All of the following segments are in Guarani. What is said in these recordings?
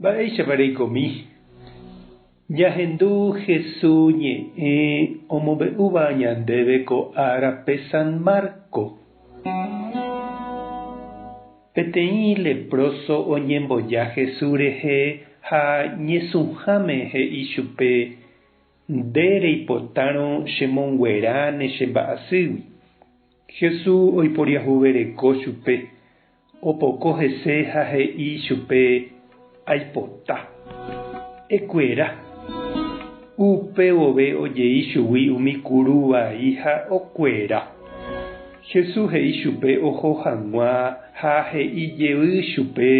Mba'éichapa reikomi ñahendu Hesu ñe'ẽ omombe'úva ñandéve ko árape San Marco? Peteĩ leproso oñemboja Hesu rehe ha ñesũháme he'i chupe, Nde reipotárõ chemonguera ne chemba'asýgui. Hesu oiporiahuvereko chupe, Opoko hese ha he'i chupe, Aipota. Ekuera. Upe vove ojei chugui umi kuru vai ha okuera. Jesús he'i chupe oho hag̃ua ha he'i jevy chupe,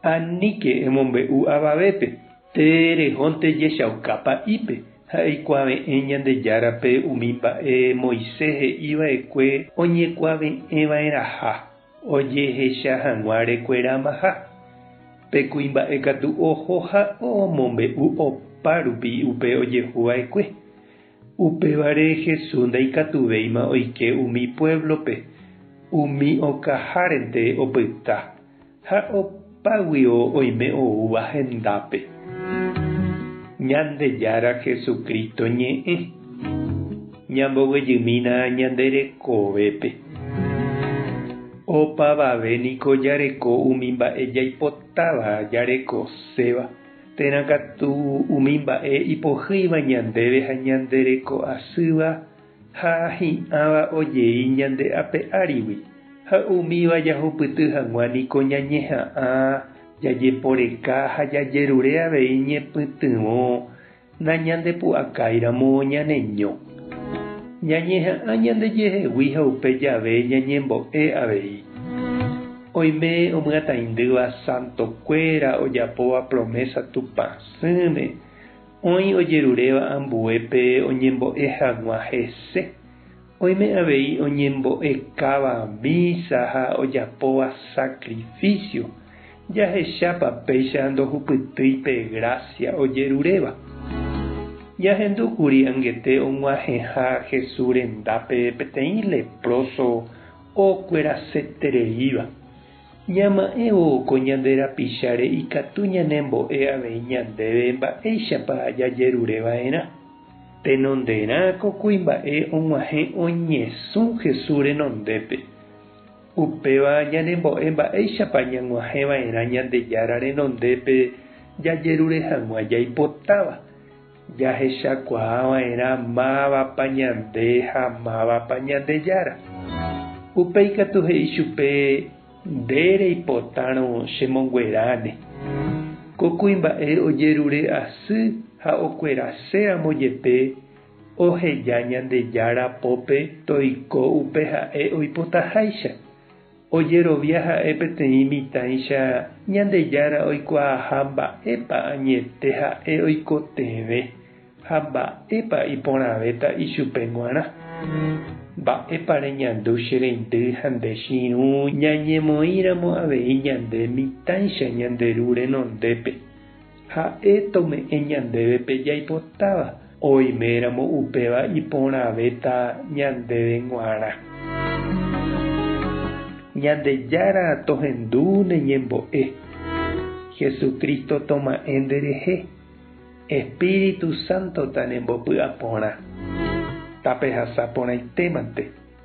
Aníke emombe'u avavépe, tee rehónte jechauka pa'ípe ha eikuave'ẽ Ñandejárape umi mba'e Moisés he'i va'ekue oñekuave'ẽva'erãha. Ojehecha hag̃ua rekueramaha. Pe kuimba'e katu oho ha omombe'u opárupi upe ojehuva'ekue. Upévare Jesús ndaikatuvéima oike umi puévlope, umi okahárente opyta ha Págui oime oúva hendápe. Ñandejára Jesucristo ñe'ẽ. Ñambovyjymína ñande rekovépe. Opavave niko jareko umi mba'e jaipotáva jarekoséva, térã katu umi mba'e ipohýiva ñandéve ha ñande reko asýva, ha hi'ãva ojei ñande ape árigui, ha umíva jahupyty hag̃ua niko ñañeha'ã, jajeporeka ha jajerure avei ñepytyvõ nañandepu'akáiramo ñaneño. Ñañeha'ã ñandejehegui ha upe jave ñañembo'e avei. Oime omyatãindýva santokuéra ojapóva promesa Tupã sỹme. Oĩ ojeruréva ambuépe oñembo'e hag̃ua hese. Oime avei oñembo'ekáva mísa ha ojapóva sakrifísio. Jahechápa péicha ndohupytýi pe grásia ojeruréva? Jahendu kuri angete og̃uahẽha Jesús rendápe peteĩ lepróso okuerasetereíva. Ñama'ẽvo ko ñande rapicháre ikatu ñanembo'e avei ñandéve mba'éichapa jajerure va'erã. Tenonderã ko kuimba'e og̃uahẽ oñesũ Jesús renondépe. Upéva ñanembo'e mba'éichapa ñag̃uahẽ va'erã Ñandejára renondépe jajerure hag̃ua jaipotáva. Jahechakuaa va'erã mávapa ñande ha mávapa Ñandejára. Upéi katu he'i chupe, Nde reipotárõ chemongueráne. Ko kuimba'e ojerure asy ha okuerase ramo jepe, oheja Ñandejára pópe toiko upe ha'e oipotaháicha. Ojerovia ha'e peteĩ mitãicha Ñandejára oikuaaha mba'épa añete ha'e oikotevẽ ha mba'épa iporãvéta ichupe g̃uarã. Mba'épa reñandu che reindy ha nde chiru ñañemoĩramo avei ñande mitãicha ñande Ru renondépe? Ha'e tome'ẽ ñandéve pe jaipotáva, oiméramo upéva iporãvéta ñandéve g̃uarã. Ñandejára tohendu ne ñembo'e. Jesucristo toma'ẽ nderehe. Espíritu Santo tanembopy'aporã. Tapehasa porãitémante.